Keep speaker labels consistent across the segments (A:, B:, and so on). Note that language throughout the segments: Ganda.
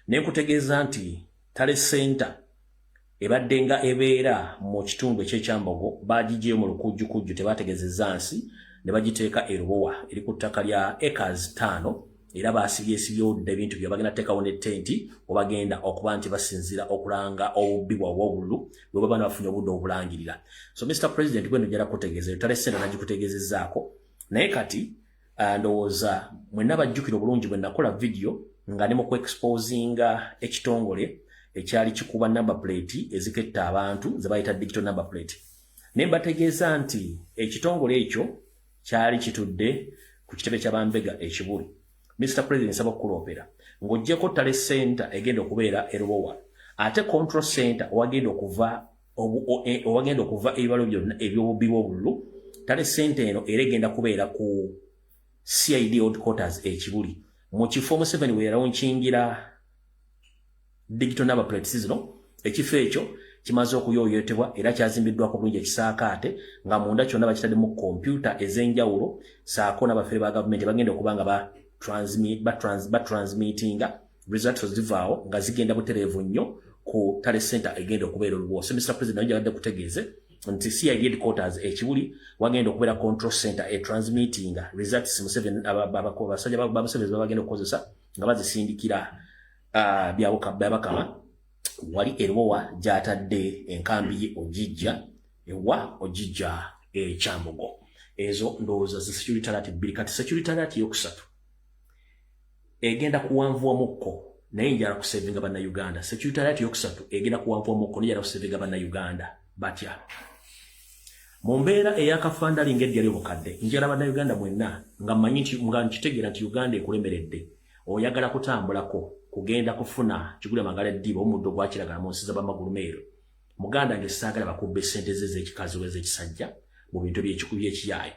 A: nenkutegeeza nti tale center ebadde nga ebeera mu kitundu ekyekyambogo bagijeyo mu lukujjukujju tebategezeza nsi ne bagiteeka erubowa eri ku ttaka lya acres taano era baasibyesibyodda ebintu byo bagenda teekawo ne tenti obagenda okuba nti basinzira okulanga obubbi bwabwe obululu bwe baba nabafunye obudde obulangirira so mr president gweno jala kutegeeza tale sente nagikutegezezaako naye kati Ah, ndowooza mwenna bajjukira obulungi bwe nakola vidiyo nga ne mu ku exposinga ekitongole ekyali kikuba number plate eziketta abantu ze bayita digital number plate ne mbategeeza nti ekitongole ekyo kyali kitudde ku kitebe kya bambega ekibuli mr president nsaba okukuloopera ng'ogyeko tale center egenda okubeera erubowa ate control center owagenda okuva e, owagenda okuva ebibalo byonna ebyobubbi bwobululu tale sente eno era egenda kubeera ku cid old quarters ekibuli mu kifo museveni weyalonkingira digital number plates zino ekifo ekyo kimaze okuyoyotebwa era kyazimbiddwako bulungi ekisaakaate nga munda kyonna bakitaddemu kompyuta ez'enjawulo saako n'abafere ba gavumenti bagenda okuba nga batransmitinga ba results zivaawo nga zigenda butereevu nnyo ku tale center egenda okubeera oluboose mr president nayo gyagadde kutegeeze nti cid headquarters ekibuli wagenda okubeera control center e transmittinga results museveni abasajja ba museveni babagenda okukozesa nga bazisindikira ah, byabakama wali erubowa gyatadde enkambi ye ogijja ewa ogijja ekyambogo ezo ndowooza zi security alert bbiri kati security alert yokusatu egenda kuwanvuwamukko naye njala kusevinga banna uganda securitariat yokusatu egenda kuwanvuwamukko naye njala kusevinga banna uganda batya mu mbeera eyakafandali nga eddya lyobukadde njala banna uganda mwenna nga mmanyi nti nga nkitegeera nti uganda ekulemeredde oyagala kutambulako kugenda kufuna kigula magala eddiba omuddo gwakiragala mu nsi zabamagulumeero muganda ngesaagala bakubba esente ze ezekikazi oba ezekisajja mu bintu byekikubi ekiyaayo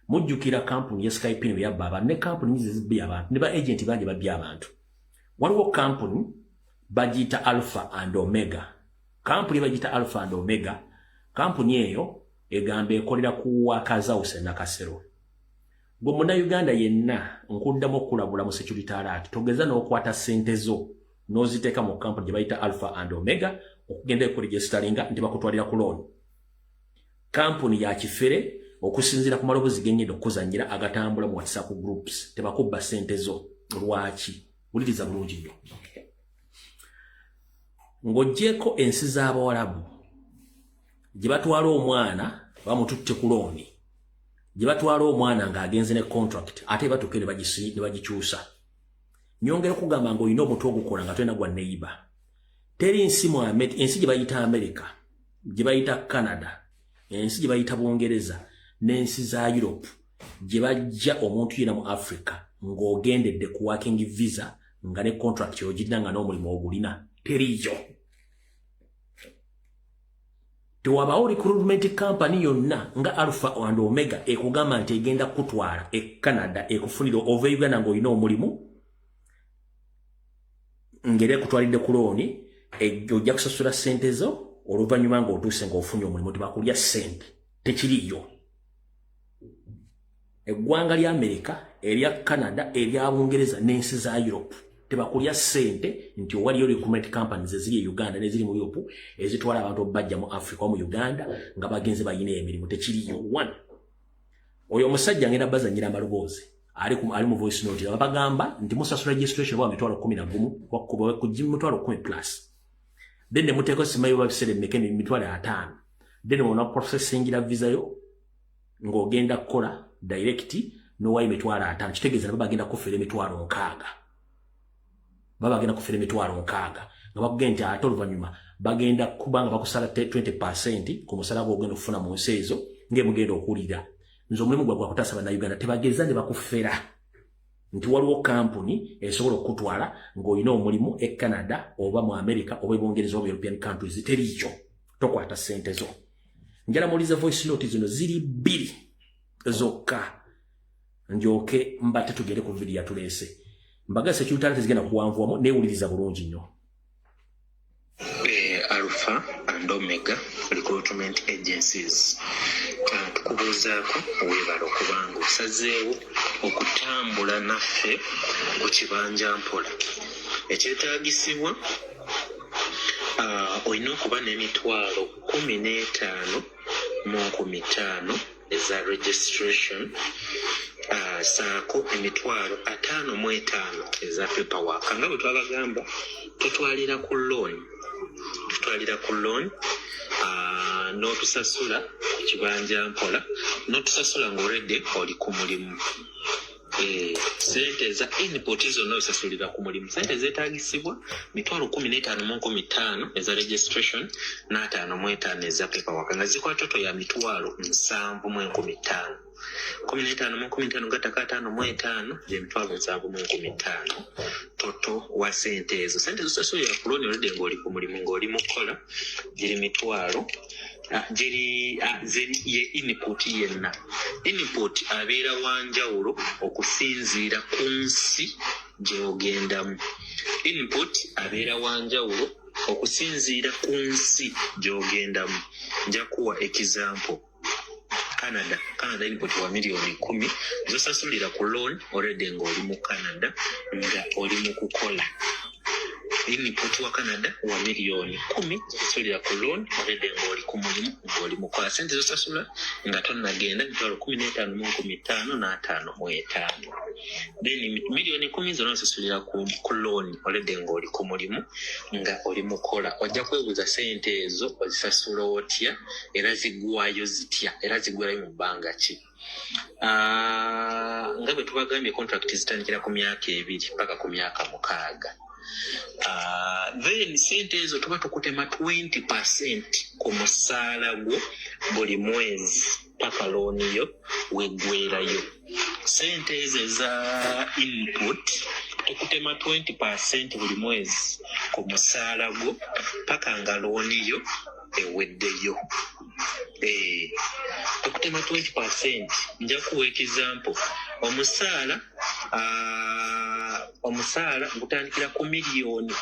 A: mujjukira kampuni ya skype ne yabba abantu ne kampuni nyizi zibbi abantu ne ba agent bangi babbye abantu waliwo kampuni bagiyita alpha and omega kampuni bagiyita alpha and omega kampuni eyo egamba ekolera ku wakazawuse nakasero gwe munauganda yenna nkuddamu okukulabula mu security alert togeza n'okwata sente zo n'oziteeka mu kampuni gye bayita alpha and omega okugenda ekuregisteringa nti bakutwalira ku looni kampuni ya kifere okusinzira ku malobozi genyeda okuzanyira agatambula mu whatsapp groups tebakubba sente zo lwaki wuliriza bulungi nnyo ng'ogyeko ensi z'abawalabu gye batwala omwana bamututte ku looni gye batwala omwana ng'agenze ne contract ate batuuke ne bagikyusa nyongera okugamba ng'olina omutu ogukola nga tolina gwa neyiba teri nsi mu ensi gye bayita amerika gye bayita canada ensi gye bayita bungereza n'ensi za europe gye bajja omuntu yena mu africa ng'ogendedde ku working visa nga ne contract ogirina nga n'omulimu ogulina teriiyo tewabawo recruitment company yonna nga alpha and omega ekugamba nti egenda kukutwala e canada ekufunira ova e uganda ng'olina omulimu ngeri ekutwalidde ku looni ojja kusasula ssente zo oluvannyuma ng'otuuse ng'ofunye omulimu tebakulya ssente tekiriyo eggwanga lya amerika erya canada erya bungereza n'ensi za europe tebakulya ssente nti owaliyo recruitment companies eziri e uganda neziri mu europe ezitwala abantu obubajja mu africa o mu uganda nga bagenze balina emirimu tekiriyo one oyo omusajja ngenda bazanyira amaloboozi ali ku ali mu voice note ya bagamba ndi musa sura registration wa mitwalo 10 na gumu kwa kubo ku jimu mitwalo 10 plus then muteko sima yo babisele meke ni mitwalo 5 then wona processing la visa yo ngo genda kola direct no wa mitwalo 5 kitegeza baba genda kufere mitwalo 6 baba bagenda kufera emitwalo nkaaga nga bakugee nti ate oluvanyuma bagenda kuba nga bakusala 20 percent ku musala gwo ogenda okufuna mu nsi ezo ngaemugenda okuwulira nze omulimu gwa gwakutaasa bannayuganda tebageza ne bakufera nti waliwo kampuni esobola okukutwala ng'olina omulimu e canada oba mu america oba ebungereza oba european countries teriikyo tokwata ssente zo njala muwuliza voice note zino ziri bbiri zokka njoke mbate tugere ku video yatulese mbaga security talent zigenda kuwanvuwamu newuliriza bulungi nnyo eh,
B: alpha and omega recruitment agencies ah, tukubuuzaako webala okubanga osazeewo okutambula naffe ku kibanja mpola ekyetagisibwa ah, olina okuba n'emitwalo kumi n'etaano mu nkumi ttaano eza registration uh, saako emitwalo ataano mu etaano eza paperwork nga bwe twabagamba tutwalira ku loan tutwalira ku loan uh, n'otusasula ku kibanja mpola n'otusasula ng'oredde oli ku mulimu Eh, sente eza input zonna osasulira ku mulimu sente zetagisibwa mitwalo kumi n'etaano mu nkumi ttaano eza registration n'ataano mu etaano eza pepawaka nga zikola toto ya mitwalo nsanvu mu enkumi ttaano kumi n'etaano mu enkumi ttaano gattako ataano mu etaano gyemitwalo nsanvu mu enkumi ttaano toto wa sente ezo sente zosasulira ku loni oludde ng'oli ku mulimu ng'oli mu kukola giri mitwalo Ah, giri ah, ye input yenna input abeera wa njawulo okusinziira ku nsi gy'ogendamu input abeera wa njawulo okusinziira ku nsi gy'ogendamu njakuwa ekizampo canada canada input wa miliyoni kumi zosasulira ku loan already nga oli mu canada nga oli mu kukola input wa canada wa miliyoni kumi zosasulira ku loan already nga oli ku mulimu nga oli mukola sente zosasula nga tonagenda mitwalo kumi n'etaano mu nkumi ttaano n'ataano mu etaano then miliyoni kumi zona osasulira ku, ku loan already nga oli ku mulimu nga oli mukola ojja kwebuuza sente ezo ozisasula otya era zigwayo zitya era zigwerayo mu bbanga ki ah, nga bwe tubagambye contract zitandikira ku myaka ebiri paka ku myaka mukaaga ah, then sente ezo tuba tukutema 20 percent ku musaala gwo buli mwezi paka looni yo wegwerayo sente ezo eza input tukutema 20 percent buli mwezi ku musaala gwo paka nga looni yo eweddeyo eh, okutema 20 percent nja kuwa ekizampo omusaala ah, omusaala gutandikira ku miliyoni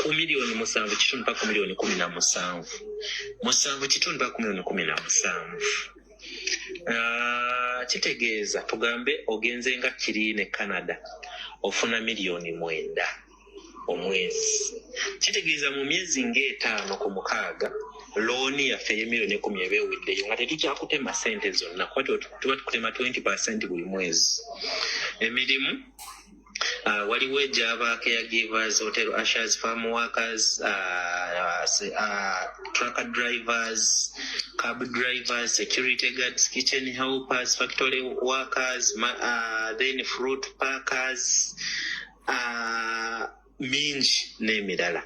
B: ku miliyoni musanvu kitundu pa ku miliyoni kumi na musanvu musanvu kitundu pa ku miliyoni kumi na musanvu ah, kitegeeza tugambe ogenze nga kiriine canada ofuna miliyoni mwenda omwezi kitegeeza mu myezi ng'etaano ku mukaaga looni yaffe ey'emirioni ekumi eba eweddeyo nga tetukyakutema sente zonna kuba tuba tukutema 20 percent buli mwezi emirimu Uh, waliwo egyabaako eya givers hotel ashers farm workers uh, uh, trucker drivers cab drivers security guards kitchen helpers factory workers uh, then fruit parkers uh, mingi n'emirala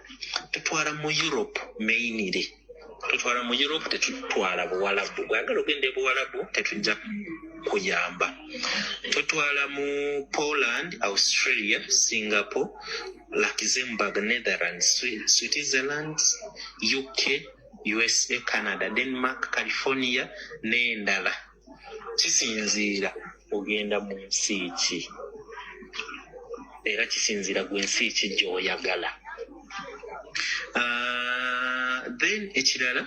B: tutwala mu europe mainire tutwala mu europe tetutwala buwalabu bwagala ogenda ebuwalabu tetujja kuyamba tutwala mu poland australia singapore luxembourg netherlands switzerland uk usa canada denmark california n'endala kisinziira ogenda mu nsi ki era kisinziira gwe nsi ki gyoyagala ah, then ekirala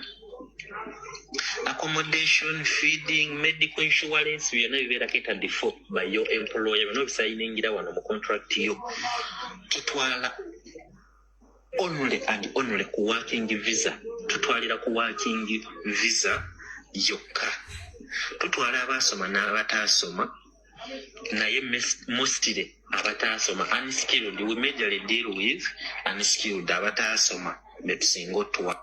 B: accommodation feeding medical insurance byonna bibeera ketadi fo by your employer byonna obisayiningira wano mu contract yo tutwala only and only ku working visa tutwalira ku working visa yokka tutwala abaasoma n'abataasoma naye mostire abataasoma unskilled we majorly deal with unskilled abataasoma betusinga otuwa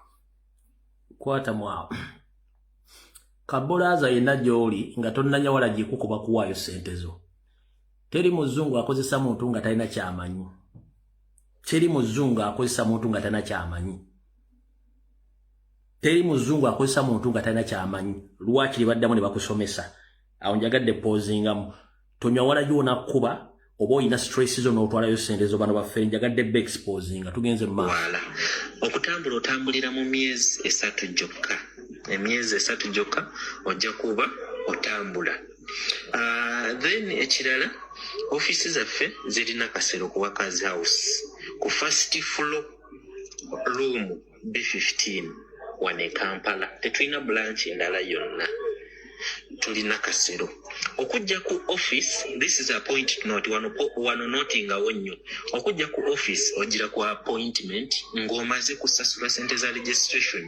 A: kwata mwawo kabulaaza yenna gy'oli nga tonnanyawala gyekukuba kuwaayo ssente zo teri muzungu akozesa muntu nga talina kyamanyi teri muzungu akozesa muntu nga tana kyamanyi teri muzungu akozesa muntu nga tana kyamanyi lwaki libaddamu ne bakusomesa awo njagadde pozingamu tonywa wala yona kuba oba olina stress zo n'otwalayo sente zo bano baffe njagadde be exposinga tugenze mu maaso okutambula
B: otambulira mu myezi esatu gyokka emyezi esatu gyokka ojja kuba otambula Uh, then ekirala ofiisi zaffe zirina kasero ku workers house ku first floor room b15 wane kampala tetulina blanch endala yonna tulina kasero okujja ku office this is appoint not wano notingawo nnyo okujja ku office ogira ku appointment ng'omaze kusasula sente za registration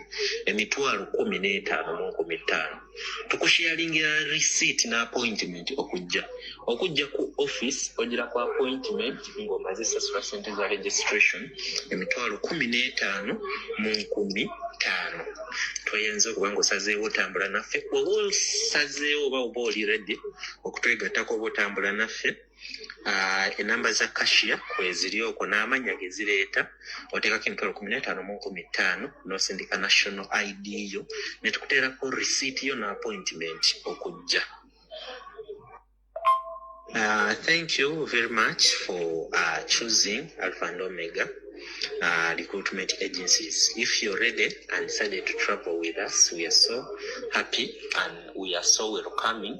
B: emitwalo kumi n'etaano mu nkumi ttaano tukusharingira receipt na appointment okujja okujja ku office ogira ku appointment ng'omaze sasula sente za registration emitwalo kumi n'etaano mu nkumi ttaano toyinza okuba nga osazeewo otambula naffe oba osazeewo oba oba oli redi okutwegattako oba otambula naffe uh, enamba za kashiya kweziri okwo n'amanya gezireeta oteekako emitwalo kumi n'etaano mu nkumi ttaano n'osindika national id yo ne tukuteerako risiiti yo n'appointment okujja Uh, thank you very much for uh, choosing Alpha and Omega uh, recruitment agencies. If you're ready and decided to travel with us, we are so happy and we are so welcoming.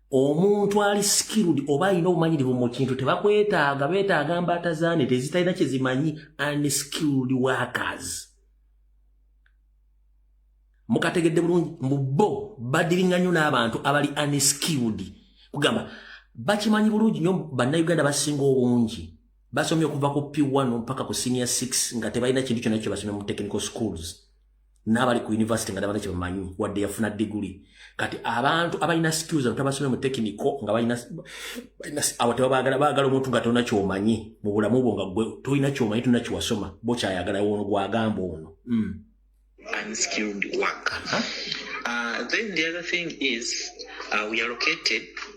A: omuntu ali skilled oba alina obumanyirivu mu kintu tebakwetaaga betaaga mbaata zane tezitalina kyezimanyi unskilled workers mukategedde bulungi mu bo badiringa nnyo n'abantu abali unskilled kugamba bakimanyi bulungi nnyo bannayuganda basinga obungi basomye okuva ku p1 mpaka ku senior 6 nga tebalina kintu kyona kye basomye mu technical schools n'abali ku yunivasite nga tabalina kyebamanyi wadde yafuna diguli kati abantu abalina skills abantu abasomye mu tekiniko nga balina abo tebabagala bagala omuntu nga tolina kyomanyi mu bulamu bwo nga gwe tolina kyomanyi tolina kyewasoma bokyayagala ono gwagamba ono hmm. unskilled
B: work. Uh -huh. uh, then the other thing is uh, we allocated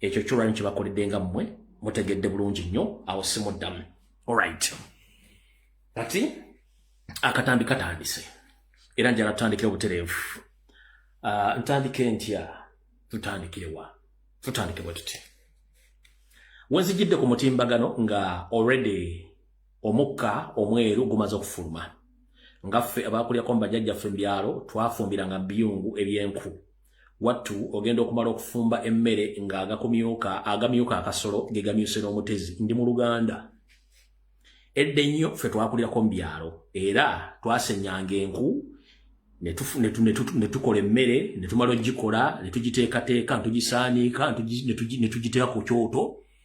A: ekyo kyolwanyi kyebakoledde nga mmwe mutegedde bulungi nnyo awo simuddamu olright kati akatambi katandise era njala tutandikire obutereevu ah, ntandike ntya tutandikirewa tutandike bwe tuti wenzijidde ku mutimbagano nga already omukka omweru gumaze okufuluma nga ffe abakulyako mu bajajjaffe mu byalo twafumbiranga biyungu ebyenku wattu ogenda okumala okufumba emmere ng'agakumyuka agamyuka akasolo ge gamyuse n'omutezi ndi mu luganda edda ennyo ffe twakulirako mu byalo era twasenyanga enku ne tukola emmere ne tumala ogikola ne tugiteekateeka ntugisaaniika ne tugiteeka ku kyoto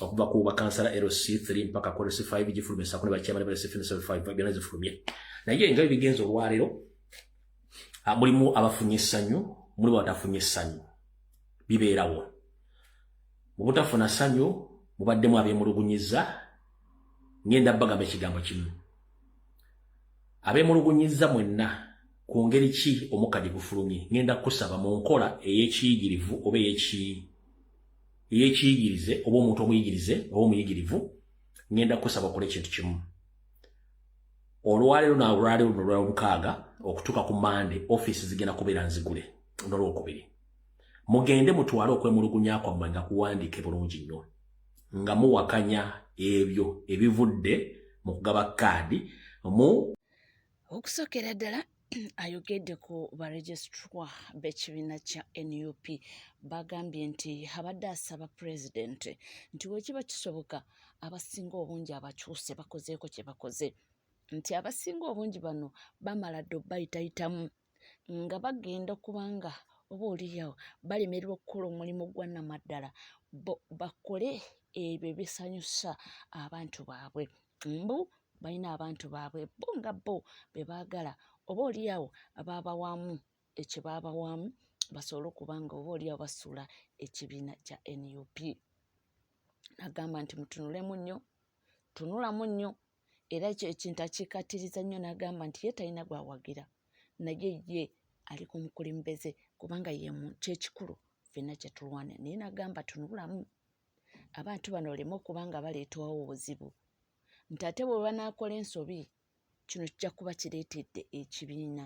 A: okuva ku bakansala LC3 mpaka ku LC5 gifulumye sako ne bakyamane ba LC4 ne LC5 byonna zifulumye naye nga ebigenze olwaleero ah, mulimu abafunye essanyu mulimu abatafunye essanyu bibeerawo mu butafuna ssanyu mubaddemu abeemulugunyiza ngenda bagamba ekigambo kimu abeemulugunyiza mwenna ku ngeri ki omukka gye gufulumye ngenda kusaba mu nkola ey'ekiyigirivu oba ey'ekiyigirivu ey'ekiyigirize oba omuntu omuyigirize oba omuyigirivu ngenda kusaba okole ekintu kimu olwaleero na olwaleero luno lwomukaaga okutuuka ku mande ofiisi zigenda kubeera nzigule nolwokubiri mugende mutwale okwemulugunya kwammwe nga kuwandiike bulungi nnyo nga muwakanya ebyo ebivudde mu kugaba kaadi mu okusokera
C: ddala ayogedde ku baregisitwa b'ekibiina kya nup bagambye nti abadde asaba pulezidenti nti wekiba kisoboka abasinga obungi abakyuse bakozeeko kye bakoze nti abasinga obungi bano bamala dde obayitayitamu nga bagenda okubanga oba oliyawo balemererwa okukola omulimu gwa namaddala bakole ebyo ebisanyusa abantu baabwe mbu balina abantu baabwe bo nga bo be baagala oba olyawo abaabawaamu ekye baabawaamu basobole okuba nga oba olyawo basuula ekibiina kya nup nagamba nti mutunulemu nnyo tunulamu nnyo era ekyo ekintu akikatiriza nnyo nagamba nti ye talina gwawagira naye ye ali ku mukulembeze kubanga yemu kyekikulu fenna kyetulwana naye nagamba tunulamu abantu bano oleme okuba nga baleetawo obuzibu nti ate bwe banaakola ensobi kino kijja kuba kireetedde ekibiina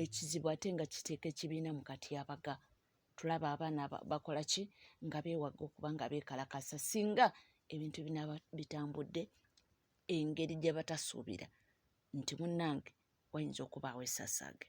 C: ekizibu ate nga kiteeka ekibiina mu katyabaga tulaba abaana bakola ki nga beewaga okuba nga beekalakasa singa ebintu binaaba bitambudde engeri gye batasuubira nti munnange wayinza okubaawo esasaage